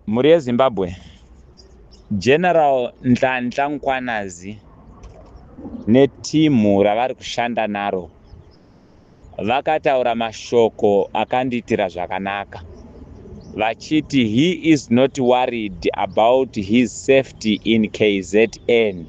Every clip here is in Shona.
Mhuri yeZimbabwe, General Nhlanhla Mkhwanazi netimhu ravari kushanda naro vakataura mashoko akandiitira zvakanaka vachiti he is not worried about his safety in kzn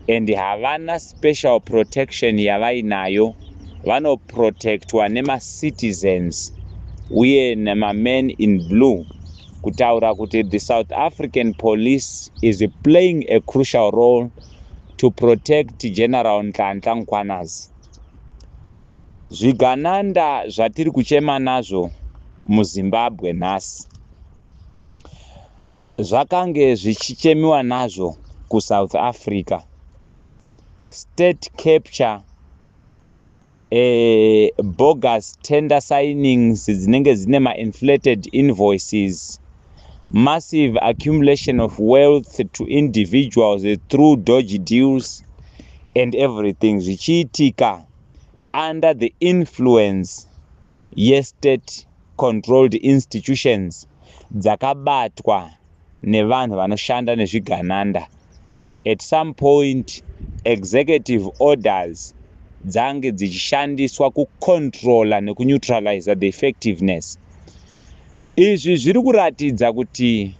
and havana Special protection yavainayo vano protectwa nema citizens uye nema men in blue kutaura kuti the South African police is playing a crucial role to protect General Nhlanhla Mkhwanazi. Zvigananda zvatiri kuchema nazvo muZimbabwe nhasi. zvakange zvichichemiwa nazvo kuSouth Africa, state capture, eh, bogus tender signings dzinenge dzine mainflated invoices, massive accumulation of wealth to individuals through dodgy deals and everything zvichiitika under the influence yestate controlled institutions dzakabatwa nevanhu vanoshanda nezvigananda at some point executive orders dzange dzichishandiswa kucontrola nekunetraliza the effectiveness izvi zviri kuratidza kuti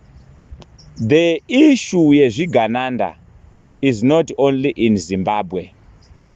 the issue yezvigananda is not only in zimbabwe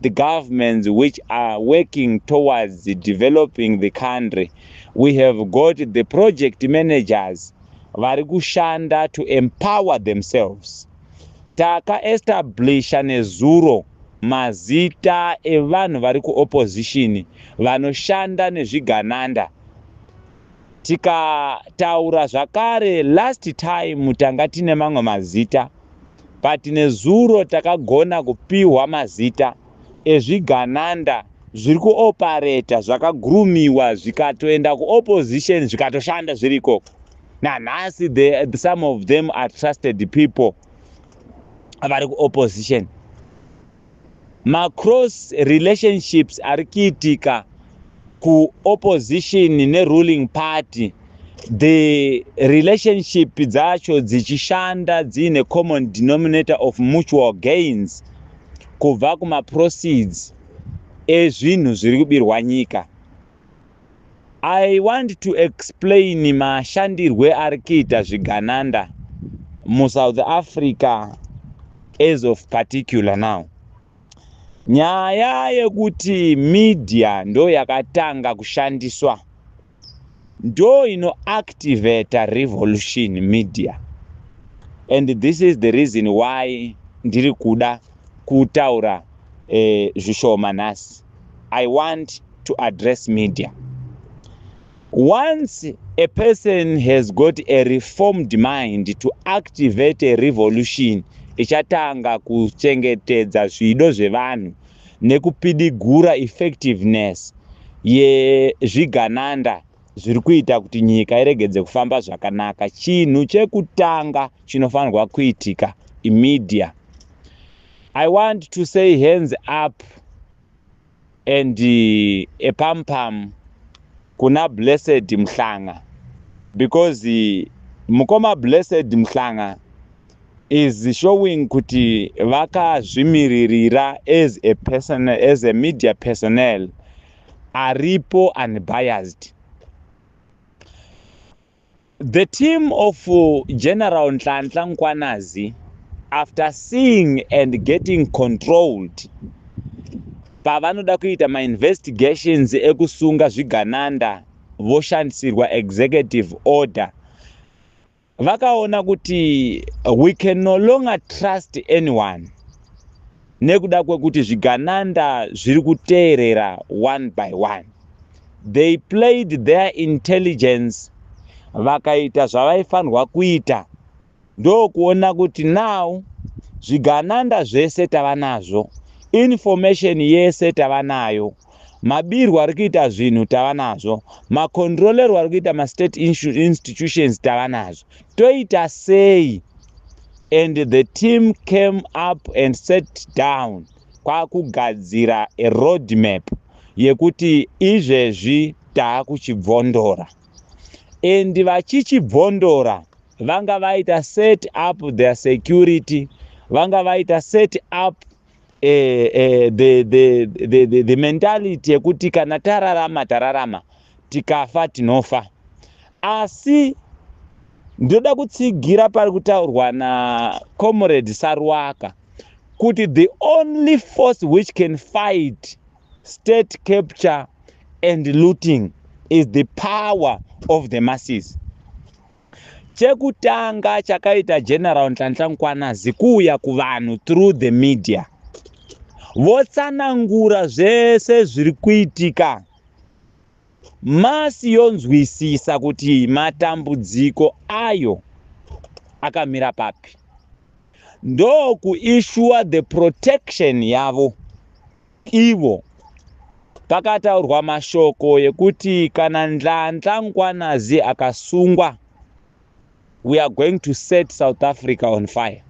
the governments which are working towards developing the country we have got the project managers vari kushanda to empower themselves takaestablisha nezuro mazita evanhu vari kuopposition vanoshanda nezvigananda tikataura zvakare last time tanga tine mamwe mazita but nezuro takagona kupihwa mazita ezvigananda zviri kuopareta zvakagurumiwa zvikatoenda kuopposition zvikatoshanda zviri ikoko nanhasi the, some of them are trusted people vari kuopposition Macross relationships ari kuitika kuopposition neruling party the relationship dzacho dzichishanda dziine common denominator of mutual gains kubva kumaproceeds ezvinhu zviri kubirwa nyika I want to explain mashandirwe ari kuita zvigananda muSouth Africa as of particular now. Nyaya yekuti media ndo yakatanga kushandiswa ndo ino activate revolution media and this is the reason why ndiri kuda kutaura eh, zvishoma nhasi. I want to address media. Once a person has got a reformed mind to activate a revolution, ichatanga kuchengetedza zvido zvevanhu nekupidigura effectiveness yezvigananda zviri kuita kuti nyika iregedze kufamba zvakanaka. Chinhu chekutanga chinofanirwa kuitika imedia. I want to say hands up and uh, a pam pam kuna blessed mhlanga because uh, mukoma blessed mhlanga is showing kuti vakazvimiririra as a person as a media personnel aripo unbiased The team of General Nhlanhla Nkwanazi after seeing and getting controlled pavanoda kuita mainvestigations ekusunga zvigananda voshandisirwa executive order vakaona kuti we can no longer trust anyone nekuda kwekuti zvigananda zviri kuteerera one by one they played their intelligence vakaita zvavaifanirwa kuita ndokuona kuti now zvigananda zvese tava nazvo information yese tava nayo mabirwo ari kuita zvinhu tava nazvo macontrolerwo ari kuita mastate institutions tava nazvo toita sei and the team came up and set down kwakugadzira a road map yekuti izvezvi taakuchibvondora and vachichibvondora vanga vaita set up their security vanga vaita set up eh, eh, the, the, the, the, the mentality yekuti kana tararama tararama tikafa tinofa asi ndoda kutsigira pari kutaurwa nacomrade sarwaka kuti the only force which can fight state capture and looting is the power of the masses chekutanga chakaita general nhlanhla mkwanazi kuuya kuvanhu through the media votsanangura zvese zviri kuitika masi yonzwisisa kuti matambudziko ayo akamira papi ndokuishuwa the protection yavo Ivo pakataurwa mashoko yekuti kana Ndlandla Nkwanazi akasungwa we are going to set South Africa on fire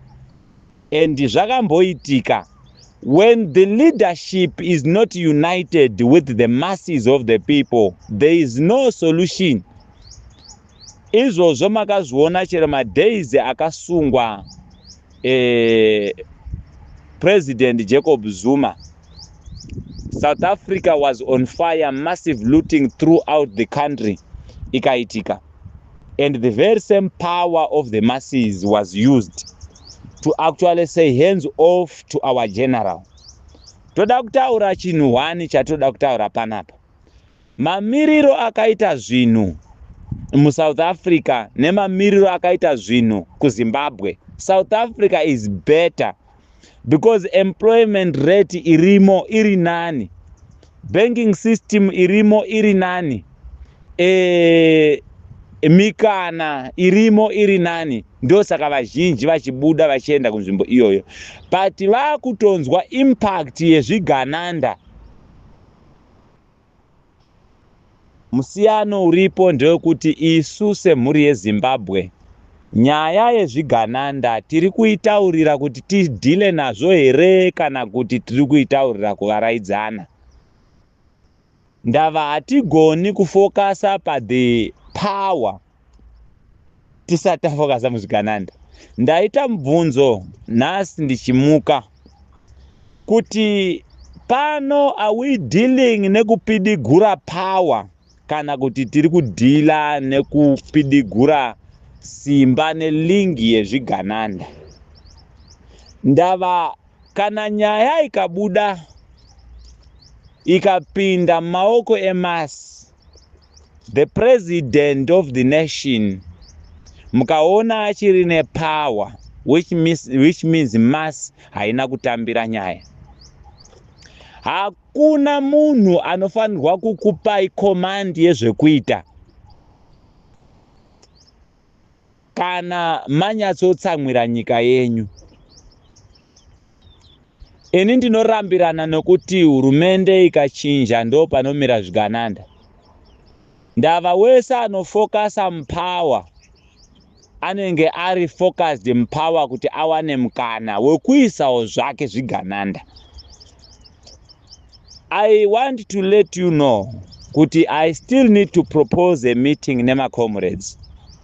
and zvakamboitika when the leadership is not united with the masses of the people there is no solution Izvozvo makazviona chero madays akasungwa eh, President Jacob Zuma. South Africa was on fire, massive looting throughout the country ikaitika. And the very same power of the masses was used to actually say hands off to our general. Toda kutaura chinhu hwani chatoda kutaura panapa. Mamiriro akaita zvinhu muSouth Africa nemamiriro akaita zvinhu kuZimbabwe. South Africa is better because employment rate irimo iri nani, banking system irimo iri nani, e, mikana irimo iri nani. Ndosaka vazhinji vachibuda vachienda kunzvimbo iyoyo, but vakutonzwa impact yezvigananda Musiyano uripo ndewekuti isu semhuri yeZimbabwe nyaya yezvigananda tiri kuitaurira kuti tidhile nazvo here kana kuti tiri kuitaurira kuvaraidzana. Ndava hatigoni kufokasa paThe Power. tisati tafokasa muzvigananda ndaita mubvunzo nhasi ndichimuka kuti pano are we dealing nekupidigura power kana kuti tiri kudhila nekupidigura simba nelingi yezvigananda ndava kana nyaya ikabuda ikapinda mumaoko emasi The president of the nation mukaona achiri nepower which means, which means mass haina kutambira nyaya hakuna munhu anofanirwa kukupai command yezvekuita Kana manyatsotsamwira nyika yenyu. Ini ndinorambirana nokuti hurumende ikachinja ndo panomira zvigananda. Ndava wese anofokasa mupower anenge ari focused mupower kuti awane mukana wekuisawo zvake zvigananda. I want to let you know kuti I still need to propose a meeting nemacomrades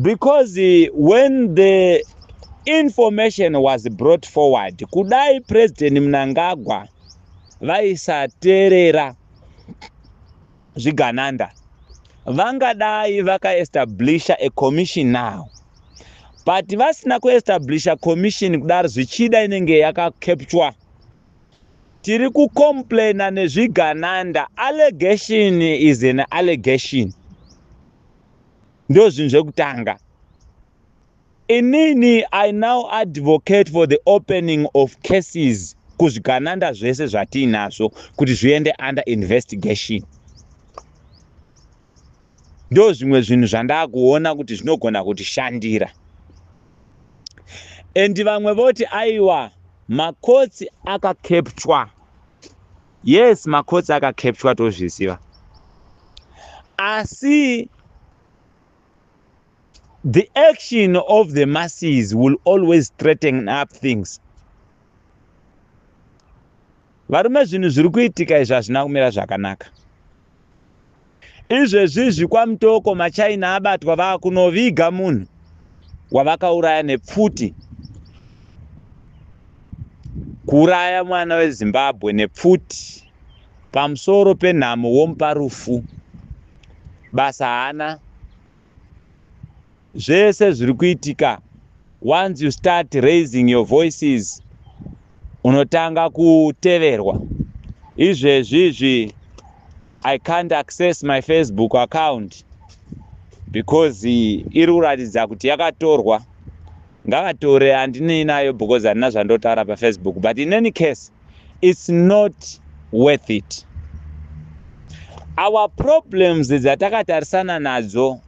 because when the information was brought forward kudai president mnangagwa vaisateerera zvigananda vangadai vakaestablisha a commission now but vasina kuestablisha commission kudaro zvichida inenge yakacapture tiri kucomplaina nezvigananda allegation is an allegation ndozvinhu zvekutanga inini i now advocate for the opening of cases kuzvigananda zvese zvatiinazvo kuti zviende under investigation ndo zvimwe zvinhu zvandakuona kuti zvinogona kutishandira and vamwe voti aiwa makotsi akakeptwa yes makotsi akakepchwa tozviziva asi the action of the masses will always threaten up things varume zvinhu zviri kuitika izvi hazvina kumira zvakanaka Izvezvizvi kwaMutoko maChina abatwa vakunoviga munhu wavakauraya nepfuti. Kuuraya mwana weZimbabwe nepfuti pamusoro penhamo womupa rufu. Basa haana. zvese zviri kuitika once you start raising your voices unotanga kuteverwa izvezvi izvi i can't access my facebook account because iri kuratidza kuti yakatorwa ngavatore handinei nayo because handina zvandotaura pafacebook but in any case it's not worth it our problems dzatakatarisana nadzo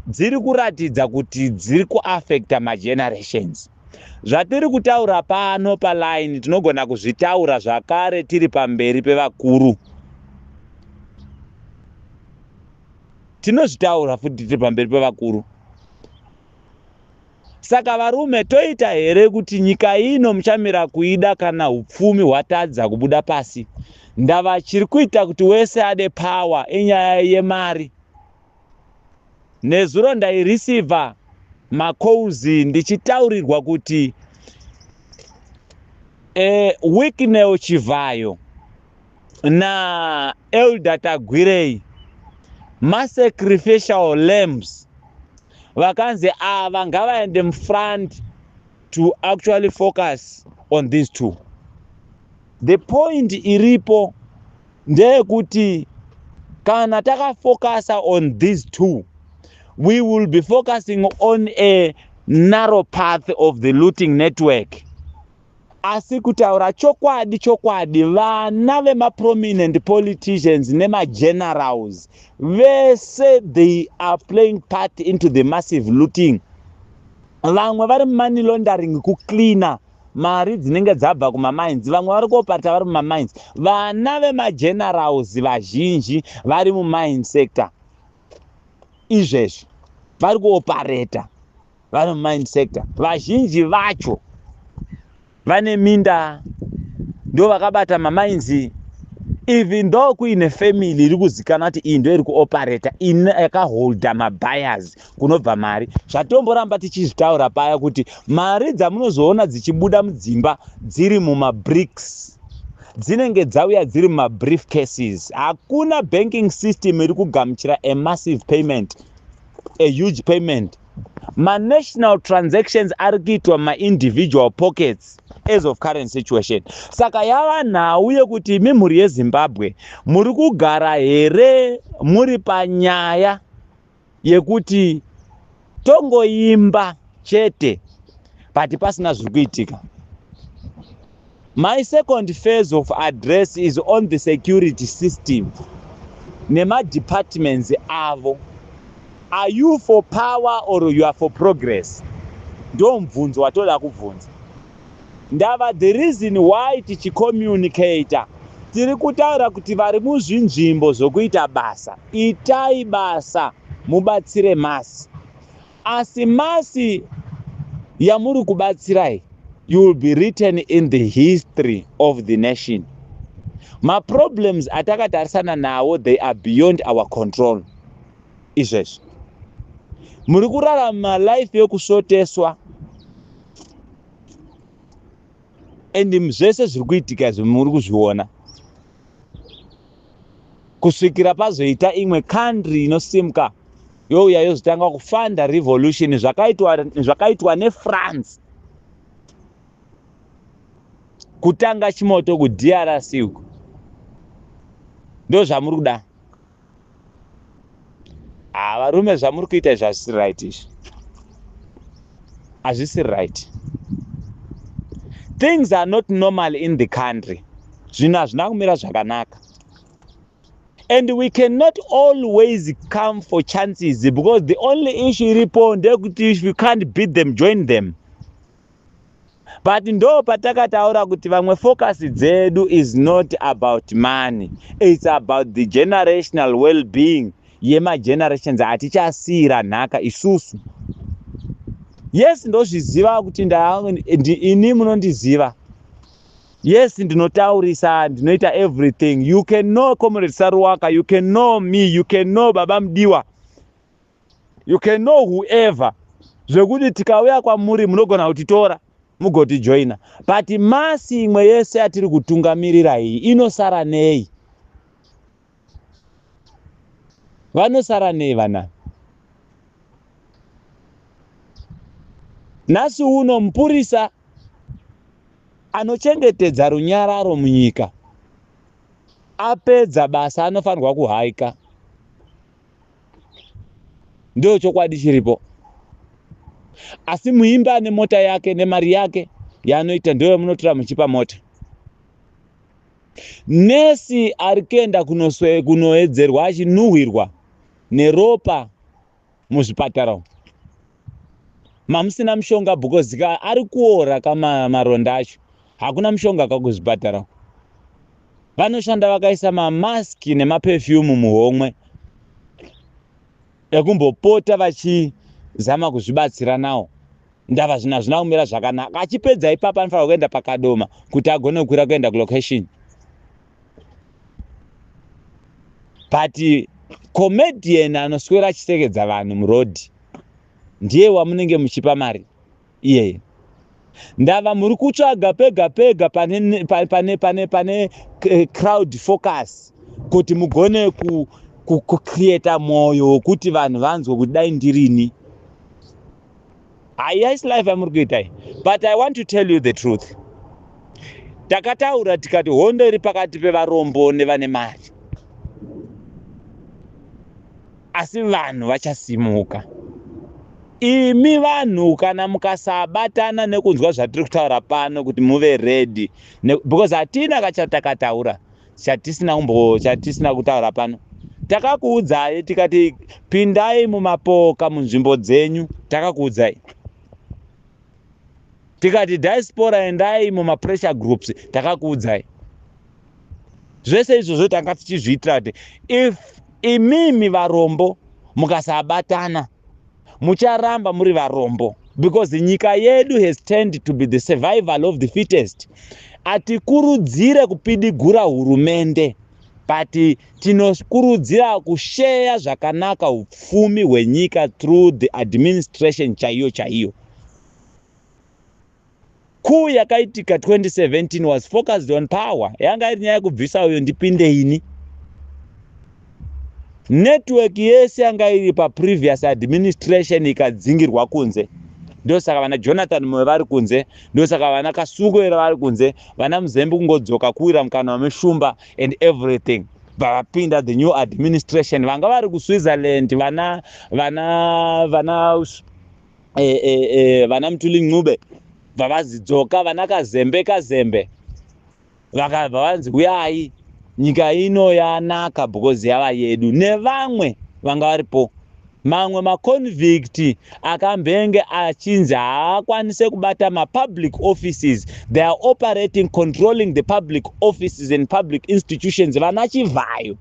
dziri kuratidza kuti dziri kuaffecta magenerations zvatiri kutaura pano paline tinogona kuzvitaura zvakare tiri pamberi pevakuru tinozvitaura futi tiri pamberi pevakuru Saka varume toita here kuti nyika ino muchamira kuida kana hupfumi hwatadza kubuda pasi? Ndava chiri kuita kuti wese ade power inyaya yemari. Nezuro ndaireceiver macalls ndichitaurirwa kuti eh, Wicknell Chivhayo na elder tagwirei masacrificial lambs vakanzi ava ngavaende mufront to actually focus on these two the point iripo ndeyekuti kana takafocusa on these two we will be focusing on a narrow path of the looting network Asi kutaura chokwadi chokwadi vana vemaprominent politicians nemagenerals vese they are playing part into the massive looting. Vamwe vari mumoney laundering kucleaner mari dzinenge dzabva kumamines vamwe vari koparta vari mumamines vana vemagenerals vazhinji vari mumine sector izvezvi vari kuopareta vari mumine sector vazhinji vacho vane minda ndo vakabata mamainzi even though kuine family iri kuzikana kuti iyi ndo iri kuoperata in yakaholda mabuyers kunobva mari zvatomboramba tichizvitaura paya kuti mari dzamunozoona dzichibuda mudzimba dziri mumabricks dzinenge dzauya dziri mumabrief cases hakuna banking system iri kugamuchira amassive payment a huge payment manational transactions ari kuitwa mumaindividual pockets as of current situation saka yava nhau yekuti imi mhuri yezimbabwe muri kugara here muri panyaya yekuti tongoimba chete but pasina zviri kuitika My second phase of address is on the security system nemadepartments avo. Are you for power or you are for progress? Ndo mubvunzo watoda kubvunza. Ndava the reason why tichicommunicator tiri kutaura kuti vari muzvinzvimbo zvokuita basa itai basa mubatsire masi Asi masi yamuri kubatsirai you will be written in the history of the nation. Maproblems atakatarisana nawo they are beyond our control. Izvezvi muri kurarama life yokusvoteswa and zvese zviri kuitika izvi muri kuzviona. kusvikira pazoita imwe country inosimka youya yozotanga kufanda revolution zvakaitwa zvakaitwa nefrance kutanga chimoto kudrc uko ndozvamuri kuda ah varume zvamuri kuita izvi hazvisi right izvi hazvisi right things are not normal in the country zvinhu hazvina kumira zvakanaka and we cannot always come for chances because the only issue iripo ndeyekuti if you can't beat them join them but ndo patakataura kuti vamwe focus dzedu is not about money its about the generational well being yemagenerations hatichasiira nhaka isusu yes ndozviziva kuti ini munondiziva yes ndinotaurisa ndinoita everything you can know comrade saruwaka you can know me you can know baba mudiwa you can know whoever zvekuti tikauya kwamuri munogona kutitora mugotijoina but masi imwe yese yatiri kutungamirira iyi inosara nei vanosara nei vanani nhasi uno mupurisa anochengetedza runyararo munyika apedza basa anofanirwa kuhaika Ndiyo chokwadi chiripo. Asi muimbi ane mota yake nemari yake yaanoita ndiyo yamunotora muchipa mota. Nesi ari kuenda kunoedzerwa achinuhwirwa neropa muzvipatara umu. mamusina mushonga because ka ari kuora kama maronda acho hakuna mushonga ka kuzvipatara vanoshanda vakaisa mamaski nemapefyumu muhomwe ekumbopota vachizama kuzvibatsira nawo ndava zvina zvina kumira zvakanaka achipedza ipapa anofanira kuenda pakadoma kuti agone kukwira kuenda kulocation but comedian anoswera achisekedza vanhu muroad ndiye wamunenge muchipa mari iyeye ndava muri kutsvaga pega pega pane, pane, pane, pane, pane eh, crowd focus kuti mugone ku, ku, kucreata mwoyo wekuti vanhu vanzwe kuti dai ndirini Hayais life yamuri kuita iyi but i want to tell you the truth takataura tikati hondo iri pakati pevarombo nevane mari asi vanhu vachasimuka imi vanhu kana mukasabatana nekunzwa zvatiri kutaura pano kuti muve redi because hatina kachatakataura chatisina umbo chatisina kutaura pano takakuudzai tikati pindai mumapoka munzvimbo dzenyu takakuudzai tikati diaspora endai mumapressure groups takakuudzai zvese izvozvo tanga tichizviitira kuti if imimi varombo mukasabatana mucharamba muri varombo because nyika yedu has turned to be the survival of the fittest atikurudzire kupidigura hurumende but tinokurudzira kusheya zvakanaka upfumi hwenyika through the administration chaiyo chaiyo Coup yakaitika 2017 was focused on power. Yanga iri nyaya kubvisa uyo ndipinde ini. Network yese yanga iri pa previous administration ikadzingirwa kunze. Ndosaka vana Jonathan Moyo vari kunze, ndosaka vana Kasuku era vari kunze, vana Muzembe kungodzoka kuwira mukanwa meshumba and everything. Vapinda the new administration vanga vari ku Switzerland vana vana vana e, e, e, vana mutuli ncube vavazidzoka vana kazembe kazembe vavanzi huyai nyika ino yanaka because yava yedu nevamwe vanga varipo mamwe maconvict akambenge achinzi haakwanise kubata mapublic offices they are operating controlling the public offices and public institutions vana chivhayo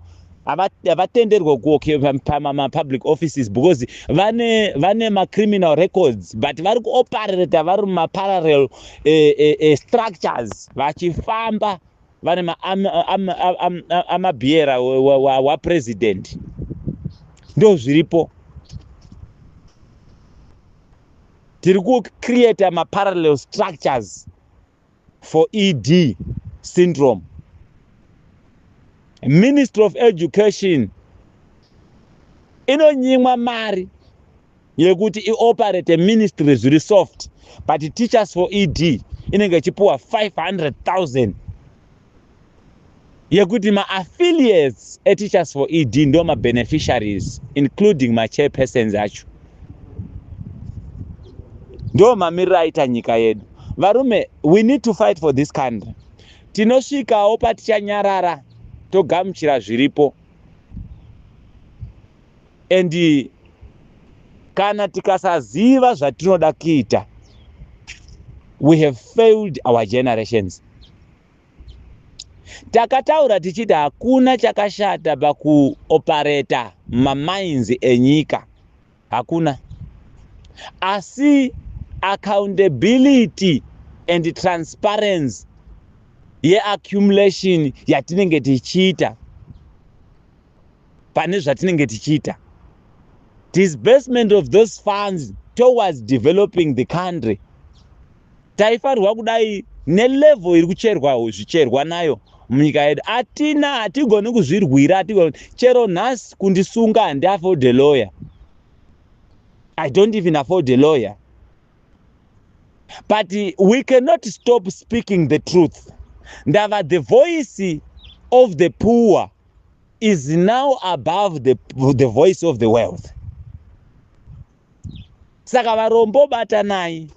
havatenderwe kuocupa pamapublic offices because vane vane macriminal records but vari kuoperata vari mumaparallel uh, eh, uh, eh, uh, eh, structures vachifamba vane maamabhiera am, am, am, am, wapresident ndo zviripo tiri kucreata maparallel structures for ED syndrome. Ministry of Education inonyimwa mari yekuti ioperate ministry zviri soft but teachers for ED inenge ichipuwa 500,000 yekuti maaffiliates eteachers for ed ndo mabeneficiaries including machairpersons acho ndo mamiriro aita nyika yedu varume we need to fight for this country tinosvikawo patichanyarara togamuchira zviripo and kana tikasaziva zvatinoda kuita we have failed our generations Takataura tichiti hakuna chakashata pakuopareta mamainzi enyika, hakuna. Asi accountability and transparency yeaccumulation yatinenge tichiita pane zvatinenge tichiita disbursement of those funds towards developing the country taifanirwa kudai nelevel iri kucherwa zvicherwa nayo munyika yedu atina hatigoni kuzvirwira hatigoni chero nhasi kundisunga handi afford a lawyer i don't even afford a lawyer but we cannot stop speaking the truth ndava the voice of the poor is now above the, the voice of the wealth saka varombo batanai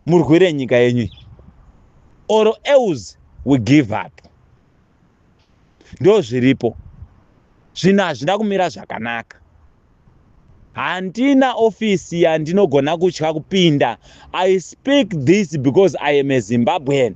murwire nyika yenyu or else we give up ndo zviripo zvinhu hazvina kumira zvakanaka handina ofisi yandinogona kutya kupinda i speak this because i am a zimbabwean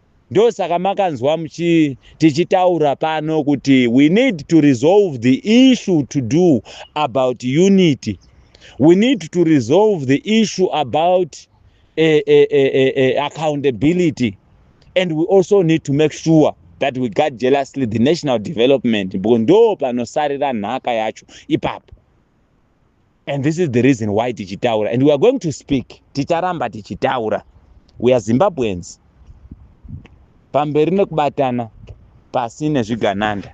Ndosaka makanzwa muchi tichitaura pano kuti we need to resolve the issue to do about unity. We need to resolve the issue about eh, eh, eh, eh, eh, accountability. And we also need to make sure that we guard jealously the national development because ndo panosarira nhaka yacho ipapo. and this is the reason why tichitaura and we are going to speak ticharamba tichitaura we are zimbabweans pamberi nekubatana pasi nezvigananda